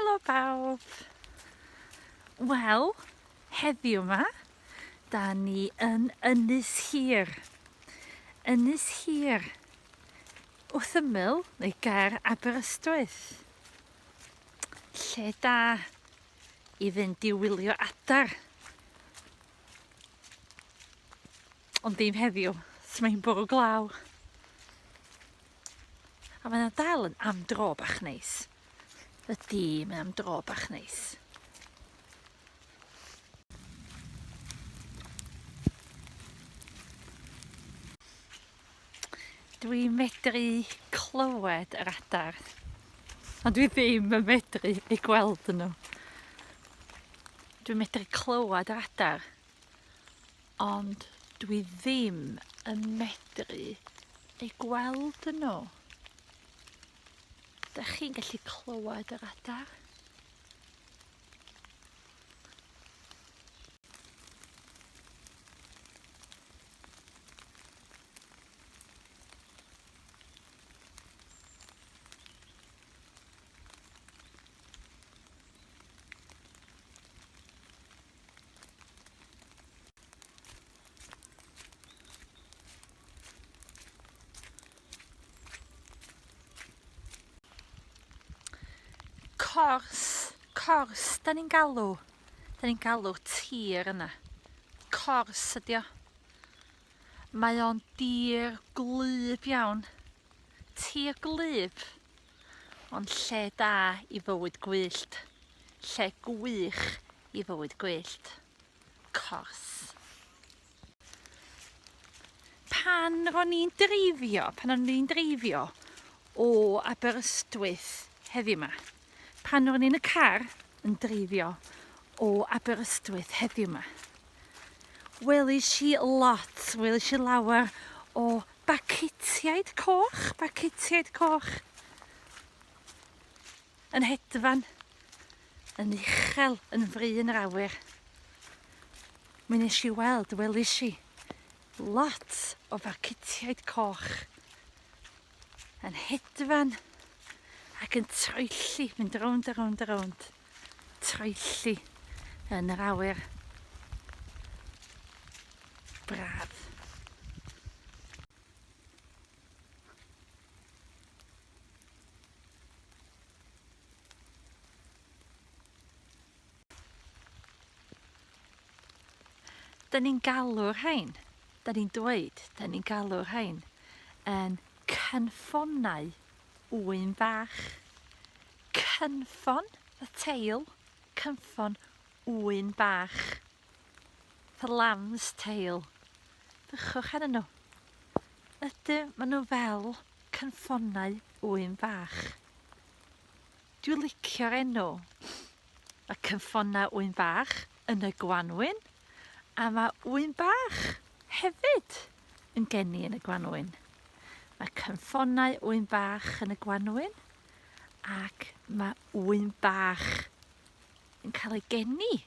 Helo bawb! Wel, heddiw yma, da ni yn Ynys Hir. Ynys Hir, Wrth ymyl neu ger Aberystwyth. Lle da i fynd i wylio adar. Ond dim heddiw, so mae'n bwrw glaw. A mae'n dal yn am dro bach neis. Ydy, mae'n am dro bach neis. Dwi'n medru clywed yr adar. Ond dwi ddim yn medru ei gweld nhw. Dwi'n medru clywed yr adar. Ond dwi ddim yn medru ei gweld nhw. Da chi'n gallu clywed yr adar? cors, cors, da ni'n galw Da ni'n galw tir yna. Cors ydi o. Mae o'n dir gwlyb iawn. Tir gwlyb. Ond lle da i fywyd gwyllt. Lle gwych i fywyd gwyllt. Cors. Pan ro'n ni'n dreifio, pan o'n ni'n dreifio o Aberystwyth heddiw ma. Pan ro'n ni'n y car yn dreifio o Aberystwyth heddiw ma. Welish i lot, welish i lawer o bacetiaid coch, bacetiaid coch. Yn hedfan, yn uchel, yn fri yn yr awyr. Mi nes i weld, welis i, lot o farcutiaid coch yn hedfan ac yn troelli, mynd rownd a rownd a rownd, troelli yn yr awyr. Braf. Dyn ni'n galw'r rhain, dyn ni'n dweud, dyn ni'n galw'r rhain yn cynffonau ŵyn fach. Cynffon, y teil, cynffon ŵyn bach. The lamb's tail. Bychwch ar nhw. Ydy, maen nhw fel cynffonau ŵyn fach. Dwi licio'r enw. Mae cynffonau ŵyn fach yn y gwanwyn a mae ŵyn bach hefyd yn geni yn y gwanwyn. Mae cynffonau ŵyn bach yn y gwanwyn ac mae ŵyn bach yn cael ei geni